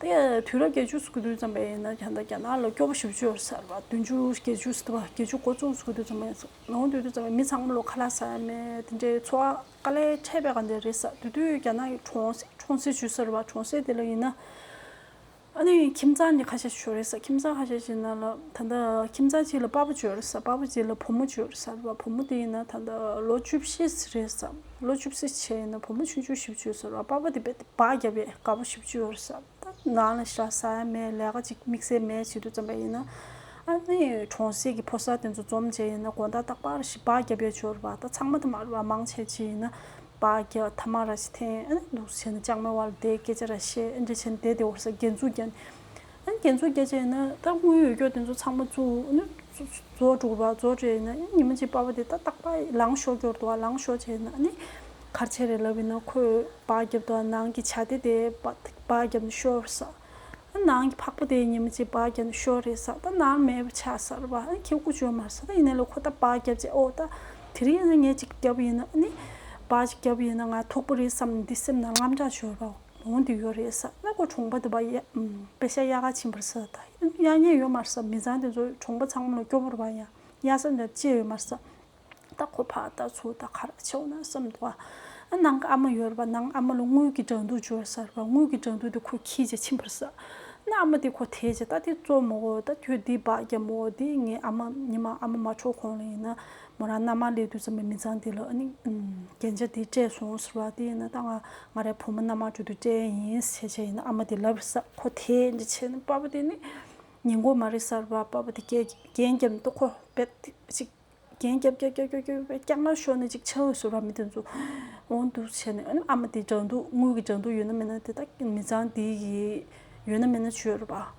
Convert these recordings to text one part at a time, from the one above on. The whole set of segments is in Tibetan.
དེ་དུས་རབས་བརྒྱད་ཅུ་སོ་བདུན་ཙམ་པའི་ནང་རྒྱ་ནག་ལ་སྐྱོ་བོ་ཞི་བ་ཆུ་བོ་གསར་པ་བདུན་ཅུ་བརྒྱད་ཅུ་སོ་དྲུག་བརྒྱད་ཅུ་གོ་གཙོ་སོ་བདུན་ཙམ་པའི་ནང་དུས་དུས་ཙམ་པའི་མི་ཚང་མ་ལོ་ཁ་ལ་ཟ་ཡ་མེད་དེ་འདྲའི་འཚོ་བ་དཀའ་ལས་འཕྲད་པའི་ག་འདྲ་རེད་ས་དེ་དུས་རྒྱ་ནག་གི་གྲོང་གྲོང་གསེབ་ཆུ་གསར་པ་གྲོང་གསེབ་དེ་ལ་ཡིན་ན་ཨ་ནི་ཁྱིམ་ཚང་གི་ཁ་ཤས་ཤིག་ཞོར་རེད་ས་ཁྱིམ་ཚང་ཁ་ཤས་ཤིག་ན་ལ་ད་ལྟ་ཁྱིམ་ཚང་གཅིག་ལ་དཔའ་བོ་བྱོས་རེད་ས་དཔའ་བོ་གཅིག་ལ་བུ་མོ་བྱོས་རེད་ས་བུ་མོ་དེ་ཡིན་ན་ད་ལྟ་ལོ་བཅུ་བཞི་རེད་ས། ལོ་བཅུ་བཞི་ཆའི་ཡིན་ན་བུ་མོ་ཆུང་ཆུང་བཞི་བཅུ་ཟེར་བ་དཔའ་བོ་དེ་བས་དེ་བག་རྒྱབ་པའི་དགའ་བོ་བཞི་བཅུ་ཡོད་ས་ད་ནང་ལ་ཤ་ཟ་ཡ་མེད་ལས་ཀ་ཅིག་དམིགས་བསལ་མེད་བྱེད་དུ་བརྩམས་པ་ཡིན་ན། ཨ་ནི་གྲོང་གསེབ་ཀྱི་ཕོ་གསར་དེ་ཚོ་འཛོམས་བྱས་ཡིན་ན་དགོན་བདག་སྟག་ཕར་ཞེས་བག་རྒྱབ་པའི་ཇོར་བ་ད་ཚང་མ་ཐ་མར་བ་མང་ཆེ་བྱས་ཡིན་ན། བག་རྒྱ་ཐ་མ་ར་ཞིག་འཐེན་ཨ་ནི་འདུག་བྱས་ན་ཅང་མེ་དབལ་སྡེའི་སྐད་ཆ་ར་ཤེས་འབྲེལ་བྱས་ནས་དེ་དེ་འོར་ས་རྒྱལ་འཛུགས་རྒྱ་ནི། ཡང་རྒྱན་མཚོ་རྒྱ་བཅས་ན་རྟག་དངོས་ཡོད་སྐྱོ་དེ་ཚོ་ཚང་མ་རྫོགས་འགྲོ་བ་རྫོགས་བྱས་ན་ཉི་མ་གཅིག་པགས་པ་དེ་ལྟ་རྟག་པ་ལངས་ཤོག་སྐྱོར་དུ་བ་ལངས་ཤོག་བྱས་ན་ནི་གར་ཆེན་རེ་ལབ་པས་ན་ཁོས་བག་བརྒྱབ་དུ་བ་ནང་གི་བྱ་དེ་དེ་བག་བརྒྱབ་ནས་ཤོར་བས་ས་ནང་གི་ཕག་པ་དེ་ཉི་མ་གཅིག་བག་བརྒྱབ་ནས་ཤོར་རེས་ས་ད་ནང་མེད་པ་ཆ་སར་བ་ཁྱི་རྐུ་བཅོས་མར་ས་ད་ཡིན་ན་ལོ་ཁོ་ད་བག་བརྒྱབ་བྱས་ཨོ་ད་དེ་རིང་ངས་གཅིག་བརྒྱབ་ཡིན་ན་ནི་བག་ཅིག་བརྒྱབ་ཡིན་ན་ང་ཐོག་པོ་རེད་བསམ་ནས་འདི་སེམས་ནང་རྔམ་དྲག་ཤོར་བའོ། ལོང་དུ་ཡོད་རེད་ས་གནས་སྐོར་གྲོང་པ་དུ་བ་ཡ་པེ་ཤ་ཡ་ག་ཆིན་པར་སི་ད་ཡ་ཉན་ཡོད་མར་སི་མི་ཚང་དེ་ཚོ་གྲོང་པ་ཚང་མ་ལ་སྐྱོ་པོར་བ་ཡ་ཡ་སི་འདྲ་བཅས་ཡོད་མར་སི་ད་ཁོ་ཕ་ད་ཚུ་ད་ཁ་ར་ཆེ་བོ་ན་སི་མདོ་བ་ཨ་ནང་གི་ཨ་མ་ཡོད་ར་བ་ནང་ཨ་མ་ལ་དངུལ་གི་འགྲ་འདུག་འཇོར་སར་བ་དངུལ་གི་འགྲ་འདུག་དེ་ཁོ་ཁྱི་ཆེ་ཆིན་པར་སི་ན་ཨ་མ་དེ་ཁོ་ཐེ་ཆེ་ད་དེ་ཙོ་མོ་ད་ཁྱོད་དེ་བ་རྒྱ་མོ་དེ་ངའི་ཨ་མ་ཉི་མ་ཨ་མ་མ་འཕྲོག་གོང་ལ་ཡིན་ན་མོ་རང་མནའ་མ་ལས་དུས་ཙམ་པའི་མི་ཚང་འདི་ལ་ཨ་ནི། རྒྱན་ཆ་འདི་སྤྲད་སོང་ཟེར་བ་དེ་ཡིན་ན་ད་ང་ང་རའི་བུ་མོ་མནའ་མ་ཁྲོད་དུ་སྤྲད་ཡས་ཡིན་ཟེར་བྱས་བྱས་ཡིན་ན་ཨ་མ་དེ་ལབ་ས་ཁོ་དེས་འདྲི་བྱས་ན་པཱ་པཱ་དེ་ནི་ཉེ་མགོ་མ་རེད་ས་རུ་པཱ་པཱ་དེ་སྐད་རྒྱན་རྒྱབ་འདུག་ཁོ་རྦད་དེ་ཅིག་རྒྱན་རྒྱབ་རྒྱབ་རྒྱབ་རྒྱབ་རྒྱབ་རྒྱག་ན་ཤོར་ནས་ཅིག་འཆའ་འོས་ཟེར་བ་མི་དེ་ཚོ་འོང་འདུག་བྱས་ནས་ཨ་ནི་ཨ་མ་དེ་འདྲ་འདུག་དངུལ་གྱི་འདྲ་འདུག་ཡོད་ན་མེད་ན་དེ་དག་མི་ཚང་འདི་ཡི་ཡོད་ན་མེད་ན་བྱོས་རེད་པཱ།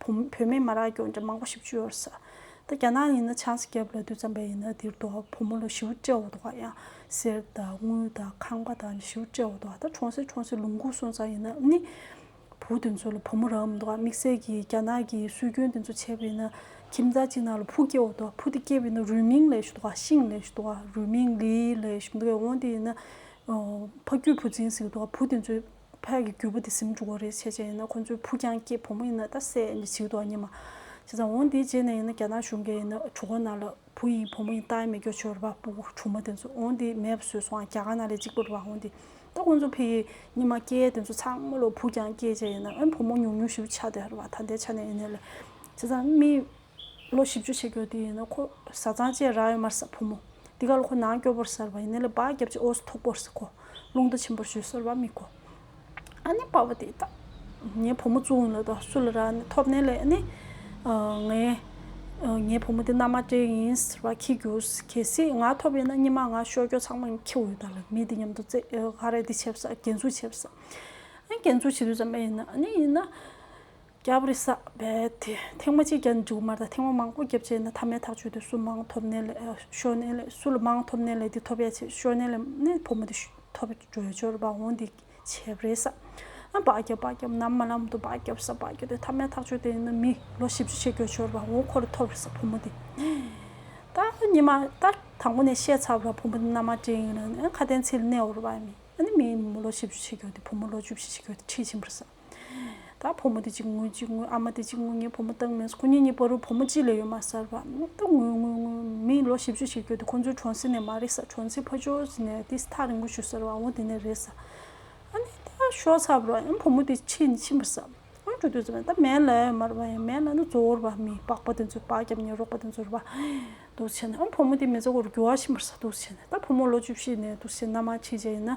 བུ་མེད་མ་རག་སྐྱོན་ཅན་མང་པོ་ཞིག་བཅུ་ཡོད་ས། ད་རྒྱ་ནག་ཡིན་ན་ཆང་ས་རྒྱབ་ལ་དུས་ཙམ་པའི་ཡིན་ན་འདིར་འདུག་ཨ་བུ་མོ་ལ་ཞི་བུ་སྤྲེའུ་འདུག་ཨ་ཡང་གསེར་དང་དངུལ་དང་ཁང་པ་དང་ཞི་བུ་སྤྲེའུ་འདུག་ཨ་ད་གྲོང་གསེབ་གྲོང་གསེབ་ལུང་ཁུག་སོང་ཙང་ཡིན་ན་ནི། བུ་དེ་ཚོ་ལ་བུ་མོ་རག་མི་འདུག་ཨ་དམིགས་བསལ་གྱིས་རྒྱ་ནག་གི་སྲོལ་རྒྱུན་དེ་ཚོ་འཆད་པ་ཡིན་ན་ཁྱིམ་བདག་ཅིག་ནང་ལ་བུ་སྐྱེ་བོ་འདུག་ཨ་བུ་དེ་སྐྱེས་པ་ཡིན་ན་རུས་མིང་ལས་ཞེས་འདུག་ཨ་ཤིང་ལས་ཞེས་འདུག་ཨ་རུས་མིང་ལིའི་ལས་ཞེས་འདུག་ཨ་འོང་དེ་ཡིན་ན་ཕ་རྒྱུད་བུ་འཛིན་ཟེར་གྱི་འདུག་ཨ་བུ་དེ་ཚོས། ཕལ་གྱི་རྒྱུ་བུ་དེ་གཟིམ་འགྲོ་གི་རེད་བྱས་བྱས་ཡིན་ན་ཁོ་ཚོའི་བུ་རྐྱང་སྐྱེས་བུ་མོ་ཡིན་ན་ད་སད་ནས་བྱིས་འདུག་ཨ་མྱེས་མ། བྱས་ཙང་འོང་དེའི་རྗེས་ནས་ཡིན་ན་རྒྱ་ནག་གཞུང་གས་ཡིན་ན་གྲུ་གོ་ནག་ལ་བུ་ཡིན་བུ་མོ་ཡིན་ལྟ་ཡི་མེད་སྐྱོ་ཆོས་ར་བ་པུ་གྲུ་མ་དེ་ཚོ་འོང་དེའི་མེད་པ་བཟོས་སོང་ཨ་རྒྱ་ག་ནག་ལས་གཅིག་པུ་ར་བ་འོང་དེ་ད་ཁོ་ཚོ་ཕལ་གྱི་ཉི་མ་སྐྱེས་དེ་ཚོ་ཚང་མ་ལ་བུ་རྐྱང་སྐྱེས་བྱས་ཡིན་ན་ཨ་བུ་མོ་ཉུང་ཉུང་ཞིག་བུ་ཆ་དེ་ར་བ་ད་ལྟའི་ཆ་ནས་ཡིན་ནའི་ལས་བྱས་ཙང་རྨིས། ལོ་བཞི་བཅུ་ཆེ་སྐྱོ་དེ་ཡིན་ན་ཁོ་བཟའ་ཚང་བཅས་རག་ཡོད་མར་ཟ་བུ་མོ་འདི་ག་ལ་ཁོ་ནང་སྐྱོ་པོར་ཟེར་བ་ཡིན་ནི་ལ་བག་རྒྱབ་ཅིག་ཨོ་སི་ཐོག་པོར་ཟེར་ཁོ་རླུང་རྟ་ཆེན་པོར་བཞུད་ཟེར་བ་མི་གོ་ཨ་ནི་པ་བ་དེ་ད་ངའི་བུ་མོ་བཙུན་ལ་དང་སུ་ལ་རག་ནི་ཐོབ་ནི་ལས་ནི་ངའི་ངའི་བུ་མོ་དེ་མནའ་མ་སྤྲེལ་ཡིན་ཟེར་བ་ཁྱི་རྒྱུ་གལ་སྲིད་ང་ཐོབ་ཡིན་ན་སྙི་མ་ང་ཤོར་སྐྱོ་ཚང་མ་ཁྱི་འོད་དང་ལ་མི་དེ་མཉམ་དུ་རྩེ་ག་རེ་དེ་བྱེད་བཟའ་འགན་འཛུགས་བྱེད་བཟའ་འགན་འཛུགས་བྱེད་དུས་ཙམ་པ་ཡིན་ན་ཨ་ནི་ཡིན་ན། སྐྱབས་རེ་བསགས་པས་ཐེངས་མ་གཅིག་ཀྱང་མཇུག་མར་དང་ཐེངས་མ་མང་པོ་བརྒྱབ་རྗེས་ན་ཐ་མའི་ཐག་ཆོད་དེ་སུ་མང་ཐོབ་ནས་ལས་ཤོར་ནས་ལས་སུ་ལ་མང་ཐོབ་ནས་ལས་དེ་ཐོབ་ཡ་བྱས་ཤོར་ནས་ལས་ནས་ཕོ་མོ་དེ་ཐོབ་འགྲོས་འབྱོར་བ་འོང་འདི་བྱས་རེ་བསགས་ན་བག་བརྒྱབ་བག་བརྒྱབ་ནམ་མ་ལམ་དུ་བག་བརྒྱབ་ས་བག་བརྒྱབ་དེ་ཐ་མའི་ཐག་ཆོད་དེ་ཡིན་ན་མི་ལོ་བཞི་བཅུ་ཕྱེད་འགྱོ་འབྱོར་བ་འོང་ཁོ་རེ་ཐོབ་རེ་བསགས་ཕོ་མོ་དེ་ད་གཉིས་མ་ད་དང་པོ་ནས་བཤད་ཚར་བ་ཕོ་མོ་དེ་མནའ་མ་བྲིས་ཡིན་ན་ཁ་དན་ཚིག་ལ་གནས་འོར་བ་ཡིན་ན་མི་ལོ་བཞི་བཅུ་ཕྱེད་འགྱོ་དེ་ཕོ་མོ་ལོ་བཅུ་བཞི་ཕྱེད་འགྱོ་དེ་ཁྲིད་ཕྱིན་པར་བསགས། ད་བུ་མོ་དེ་གཅིག་ངུ་གཅིག་ངུ་ཨ་མ་དེ་གཅིག་ངུ་ངའི་བུ་མོ་སྟག་མི་སོ་ཁོ་གཉིས་གཉིས་པོ་རུ་བུ་མོ་གཅིག་ལས་ཡོད་མ་ཟར་བ་ད་ངུ་ངུ་ངུ་མི་ལོ་བཞི་བཅུ་ཞིག་སྐྱོ་དུས་ཁོ་ཚོའི་གྲོང་གསེབ་ནས་མ་རེད་ས་གྲོང་ཚིག་ཕ་ཇོ་ཟི་ནས་དེ་ཐག་རིང་པོ་བཞུད་ཟེར་བ་འོ་དེ་ནས་རེད་ས་ཨ་ནི་ད་ཤོག་ཚར་བ་རོ་ཨ་བུ་མོ་དེ་ཕྱིན་ཕྱིན་པ་ས་ཨ་འགྲོ་དུས་ཟེར་བ་ད་མལ་ལ་ཡོད་མ་རེད་བ་མལ་ལ་ནི་ཛོ་བོར་བ་མི་པགས་པ་དེ་ཚོས་པགས་རྒྱབ་ཉལ་རོགས་པ་དེ་ཚོར་བ་འདུག་བྱས་ན་ཨ་བུ་མོ་དེ་མེ་ཙོག་གོར་རྒྱུ་བ་ཕྱིན་པར་ས་འདུག་བྱས་ན་ད་བུ་མོ་ལོ་བཅུ་བཞི་ནས་འདུག་བྱས་ན་མ་ཕྱི་རྗེས་ཡིན་ན།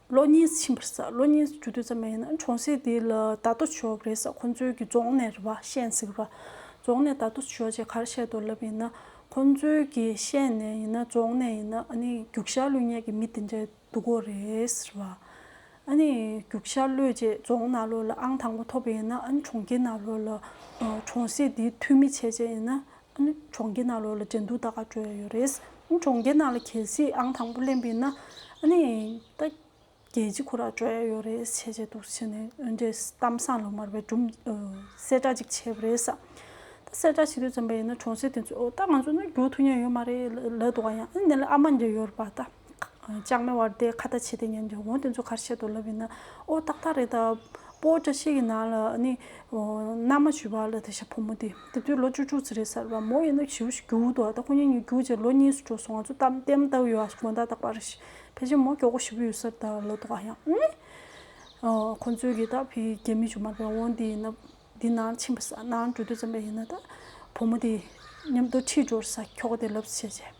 གློག་བརྙན་ཕྱིན་པར་ཟ་གློག་བརྙན་བརྒྱུད་དུས་ཙམ་མ་ཡིན་ན་གྲོང་སྲིད་འདི་ལ་བརྡ་ཐོ་བཞོ་གི་རེད་ས་ཁོང་ཚོའི་གི་རྫོང་ནས་རེད་པ་ཤད་ནས་ཟིག་ར་རྫོང་ནས་བརྡ་ཐོ་བཞོ་ཅེས་གར་བཤད་དུ་ལབ་ཡིན་ན་ཁོང་ཚོའི་གི་ཤད་ནས་ཡིན་ན་རྫོང་ནས་ཡིན་ན་ཨ་ནི་རྒྱུག་ཤར་ལུས་ཉེས་གི་མི་དེ་འདྲས་འདུག་གོ་རེད་རེད་པ་ཨ་ནི་རྒྱུག་ཤར་ལུས་ཅེས་རྫོང་ནགས་ལོ་ལ་ཨང་དང་པོ་ཐོབ་པ་ཡིན་ན་ཨ་ནི་གྲོང་ཁྱེར་ནགས་ལོ་ལ་གྲོང་སྲིད་འདིའི་འཐུས་མི་བྱས་བྱས་ཡིན་ན་གྲོང་ཁྱེར་ནང་ལོགས་ལ་འགྲན་བསྡུར་ད་ག་གྲོལ་ཡོད་རེད། གྲོང་ཁྱེར་ནང་ལ་གལ་སྲིད་ཨང་དང་པོ་གླེང་པའི་ན། ད་རྒྱལ་སྤྱི་ཁོ་ར་གྲོལ་ཡོད་རེད་བྱས་བྱས་འདུག་བྱས་ནས་འོན་ཏེ་གཏམ་བཟང་ལོ་མར་བའི་གྲུབ་གསལ་བསྒྲགས་ཅིག་བྱས་པ་རེད་ས། ད་གསལ་བསྒྲགས་བྱེད་དུས་ཙམ་པ་ཡིན་ན་གྲོང་གསེབ་དེ་ཚོས་ཨོ་ད་ང་ཚོ་ནོར་རྒྱུག་ཐུབ་མྱོང་ཡོད་མ་རེད་ལད་དོ་ག་ཡང་ཨ་ནི་ལ་ཨ་མ་འདྲེ་ཡོད་རེད་པ་ད། ལྕགས་མེ་དབར་དེ་ཁ་བརྡ་བྱས་ཏེ་ཉན་རྒྱུ་འོན་ཏེ་མཚོ་ཁར་ཤེལ་དུ་ལབ་ཡོད་ན་ཨོ་ཏག་ཏག་རེད་ད། པོ་བཀྲ་ཤིས་ཀྱི་ནང་ལ་ནི་མནའ་མ་བྱོས་པ་ལ་དེ་ཤ་ཕོ་མོ་དེ་དེབ་དུས་ལོ་བཅུ་དྲུག་ཙི་རེད་གསར་བ་མོ་ཡིན་ན་བྱིའུ་ཞིག་རྒྱུགས་འདུག་ད་ཁོ་གཉིས་གཉིས་རྒྱུགས་རྗེས་ལོ་གཉིས་སུ་འགྲོ་སོང་ང་ཚོ་གཏམ་བརྟན་བཏབ་ཡོད་ཨ་དགོན་ད་ལྟ་པར་རེད་ཕལ་ཆེར་མོ་སྐྱོ་གོ་བཞི་བོ་ཡོད་སར་ད་ལོ་ཏོག་ཨ་ཡང་ཨེ། ཁོ་ཚོས་གིས་ད་ཕི་རྒྱལ་མི་བྱུང་མ་པའི་འོན་དེ་ཡིན་ན་དེ་ནང་ཕྱིན་པ་ས་ནང་འགྲོ་དུས་ཙམ་པ་ཡིན་ན་ད་ཕོ་མོ་དེ་མཉམ་དུ་ཁྲིད་འགྲོར་ས་ཁྱོག་དེ་ལབ་ཟེར་བྱས།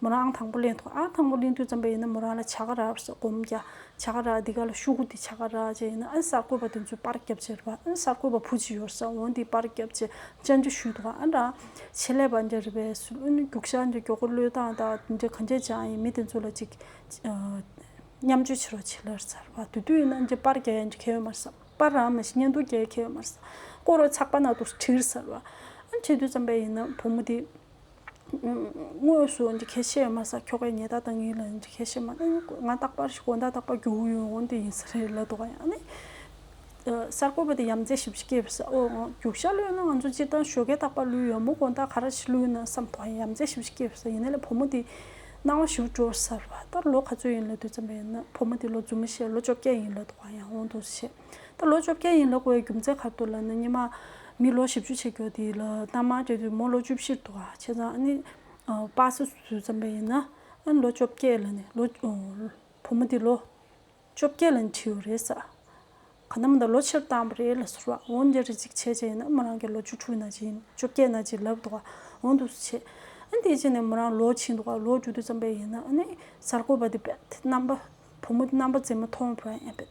མོ་རང་ཨང་དང་པོ་གླེང་ཐུང་ཨང་དང་པོ་གླེང་དུས་ཙམ་པ་ཡིན་ན་མོ་རང་ལ་བྱ་ག་ར་སོགས་སྒོམ་རྒྱ་བྱ་ག་ར་འདི་ག་ལ་ཤུ་གུ་འདི་བྱ་ག་ར་བཅས་ཡིན་ན་ཨ་གསར་བཀོད་པ་དེ་ཚོའི་པར་རྒྱབ་ཅེས་ར་བ་ཨ་གསར་བཀོད་པ་བུ་ཅི་ཡོར་ས་འོང་འདི་པར་རྒྱབ་ཅེས་བཅར་འདྲི་ཞུས་འདུག་ཨ་ར་ཆེད་ལས་པ་འདྲ་རེ་བས་སུ་ཨུན་རྒྱུག་ཤ་འདྲ་མགྱོགས་ཁོ་བློས་བཏང་ད་འདི་འདྲ་ག་འདྲས་ཅང་ཡིན་མི་དེ་ཚོ་ལ་ཅིག་མཉམ་སྤྱོད་བྱེད་རོགས་བྱེད་ལར་ཚར་བ་དུས་དུས་ཡིན་ན་འདྲ་པར་རྒྱ་ཡ་འདྲ་ཁ་ཡོད་མར་ས་པར་རང་མ་ཤི་ཉན་འདུག་རྒྱ་ཡ་ཁ་ཡོད་མར་ས་བཀོད་རོགས་ཚགས་པར་ནང་དུ་བྲིར་ཚར་བ་ཨ་འདྲས་དུས་ཙམ་པ་ཡིན་ན་བུ་མོ་འདི། དངོས་སུ་གལ་ཆེ་བ་མ་ཟད་ཁྱོ་གའི་ཉེ་ད་དང་ཡིན་ལ་གལ་ཆེ་མ་ང་རྟག་པར་ཞིག་གོ་ད་རྟག་པར་རྒྱུ་འོང་ཡོང་འོང་དེ་ཡིན་ས་རེད་ལ་དོ་ག་ཡང་ནི། གསར་འགོད་པ་དེ་ཡམ་རྫས་ཞིབ་བཤེར་སྐྱེལ་བའི་ས་འོག་རྒྱུག་ཤ་ལོས་ན་ང་ཚོ་སྤྱིར་བཏང་ཞོ་གས་རྟག་པར་ལུས་ཡོད་མོ་གོ་ད་ག་ར་ཞིག་ལུས་ན་བསམ་དོ་ག་ཡང་ཡམ་རྫས་ཞིབ་བཤེར་སྐྱེལ་བའི་ས་ཡིན་ན་ལས་བུ་མོ་དེ་སྣང་བ་ཞིབ་འགྲོ་བར་ཟེར་བ་ལྟར་ལོ་ག་ཚོད་ཡིན་ལ་དུས་མཚམས་པ་ཡིན་ན་བུ་མོ་དེ་ལོ་རྫུན་མ་བཤད་ལོ་བཅོ་བརྒྱད་ཡིན་ལ་དོ་ག་ཡང་འོང་དུ་ཆེ། ད་ལོ་བཅོ་བརྒྱད་ཡིན་ལ་སྒོའི་རྒྱུ་མཚན་ཁ་ཐུག་ལ་ནི་ཉི་མ་མི་ལོ་བཞི་བཅུ་ཕྱེད་ཀྱོ་དེ་ལ་གཏའ་མར་སྐྱེས་དུས་མོ་ལོ་བཅུ་བཞིར་འདུག་ཨ་བྱས་ཙང་ནི་སྤ་སེ་བཟོས་ཙམ་པས་ཡིན་ན་ལོ་བཅོ་བརྒྱད་ལ་ནི་ལོ། བུ་མོ་དེ་ལོ་བཅོ་བརྒྱད་ལ་ནི་ཁྲིད་ཡོད་རེད་ཟེར། ག་ནམ་ད་ལོ་ཕྱིར་བཏང་བ་རེད་ལ་ཟེར་བ་འོན་ཀྱང་རེ་ཅིག་བྱས་བྱས་ཡིན་ན་མོ་རང་གི་ལོ་བཅུ་དྲུག་ན་ཅིག་བཅོ་བརྒྱད་ན་ཅིག་ལབ་འདུག་ཨ་འོང་འདུག་ཟེར་བྱས། དེ་རྗེས་ནས་མོ་རང་ལོ་ཕྱིན་འདུག་ལོ་བཅུ་དུས་ཙམ་པས་ཡིན་ན་ནི་གསར་འགོད་པ་དེ་བས་རྣམ་པ་བུ་མོ་དེ་རྣམ་པ་མཛེས་མ་མཐོང་བས་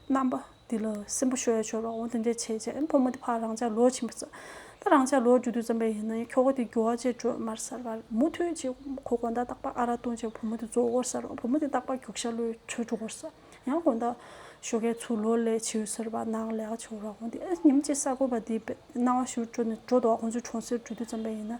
རྣམ་པ་འདི་ལ་སེམས་པ་ཤོར་ཡ་ཤོར་བའོ་འདི་འདྲའི་བྱས་རྗེས་བུ་མོ་དེ་ཕར་རང་ཅག་ལོག་ཕྱིན་པར་བརྩམས། ད་རང་ཅག་ལོག་རྒྱུ་དུས་བརྩམས་པས་ཡིན་ན་ཡང་ཁྱོ་ག་དེ་རྒྱུ་བ་ཅེས་སྒྲོལ་མར་ཟེར་བར་མུ་མཐུད་ཅིག་ཁོ་དགོན་བདག་སྟག་པ་ཨ་ར་ལྟུང་བྱས་བུ་མོ་དེ་རྫོགས་སྐོར་ཟེར་བར་བུ་མོ་དེ་སྟག་པ་རྒྱུག་ཤ་ལོའི་ཁྲོད་འགྲོ་སྐོར་ཟེར། ཡང་དགོན་བདག་ཤོ་གའི་ཚུལ་ལོ་ལས་བྱེའུ་ཟེར་བ་ནག་ལས་ཀ་བྱེའུ་ར་གོང་དེ་ཉིན་གཅིག་གསར་འགོད་པ་དེའི་སྣང་བ་བཞུར་འགྲོ་ནས་འགྲོ་དོགས་ཁོང་ཚོའི་གྲོང་གསེབ་འགྲུལ་དུས་བརྩམས་པས་ཡིན་ན་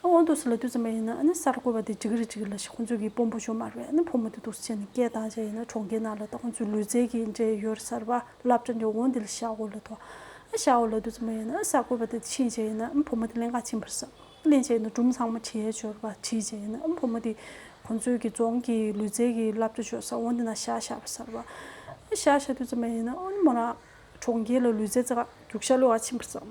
སྔོན་དུ་སི་ལ་དུས་ཙམ་རེ་ཡིན་ན་གསར་འགོད་པ་དེ་འཇིགས་རེ་འཇིགས་རེ་ལ་ཤི་ཁོང་ཚོས་གིས་དཔོན་པོ་ཞོ་དམར་བས་ཕོ་མོ་དེ་དུག་སེལ་བྱས་ནས་སྐྱེལ་བཏང་བྱས་ཡིན་ན་གྲོང་ཁྱེར་ནང་ལ་ད་ཁོང་ཚོའི་ལུས་རྩལ་གྱི་འབྲེལ་ཡོད་གསར་པ་ལབ་ཅང་ཅང་འོ་འདི་ལ་ཤ་འོ་ལ་ཐོ་ཤ་འོ་ལ་དུས་ཙམ་རེ་ཡིན་ན་གསར་འགོད་པ་དེ་ཕྱིན་བྱས་ཡིན་ན་ཕོ་མོ་དེ་གླིང་ཁ་ཕྱིན་པར་བསམ་གླིང་བྱས་ཡིན་ན་གྲུམ་ཚང་མ་ཁྲིའི་ཞོར་པ་ཁྲིད་བྱས་ཡིན་ན་ཕོ་མོ་དེ་ཁོང་ཚོས་གིས་རྫོང་གི་ལུས་རྩལ་གྱི་ལབ་ཅང་ཞོ་ས་འོ་འདི་ན་ཤ་ཤ་བ་གསར་པ་ཤ་ཤ་དུས་ཙམ་རེ་ཡིན་ན་མོ་རང་གྲོང་ཁྱེར་ལ་ལུས་རྩལ་རྩེ་ག་རྒྱུག་ཤ་ལོ་ག་ཕྱིན་པར་བསམ།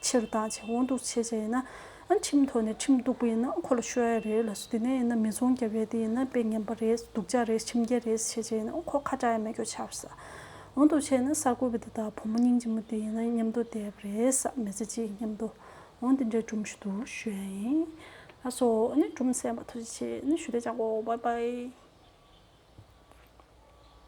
ཕྱིར་བཏང་བྱས་འོང་འདུག་བྱས་བྱས་ཡིན་ན། ཁྲིམས་ཐོག་ནས་ཁྲིམས་གཏུགས་པ་ཡིན་ན་ཁོ་ལ་ཤོད་ཡ་རེད་ལ་སོ་དེ་ནས་ཡིན་ན་མི་ཚོང་རྒྱབ་ཡ་དེ་ཡིན་ན་དཔེ་ངན་པ་རེད་སྡུག་ཅག་རེད་ཁྲིམས་འགལ་རེད་བྱས་བྱས་ཡིན་ན་ཁོ་ཁ་གྲགས་ཡ་མེད་གྱོ་ཆགས་ཟ་འོང་འདུག་བྱས་ཡིན་ན་གསར་འགོད་པའི་འདི་དག་བུ་མོ་སྙིང་རྗེ་མོ་དེ་ཡིན་ན་མཉམ་དུ་བསྡད་པ་རེད་ཟ་མི་ཚེ་གཅིག་མཉམ་དུ་འོང་དེ་འདྲའི་གྲུམ་ཞུ་དུ་ཤོད་ཡ་ཡིན་ལ་སོ་གྲུམ་སེམས་པ་ཐུགས་རྗེ་ཆེ་ཞུ་དེ་ཅག་གོ་བྷའི་བྷའི།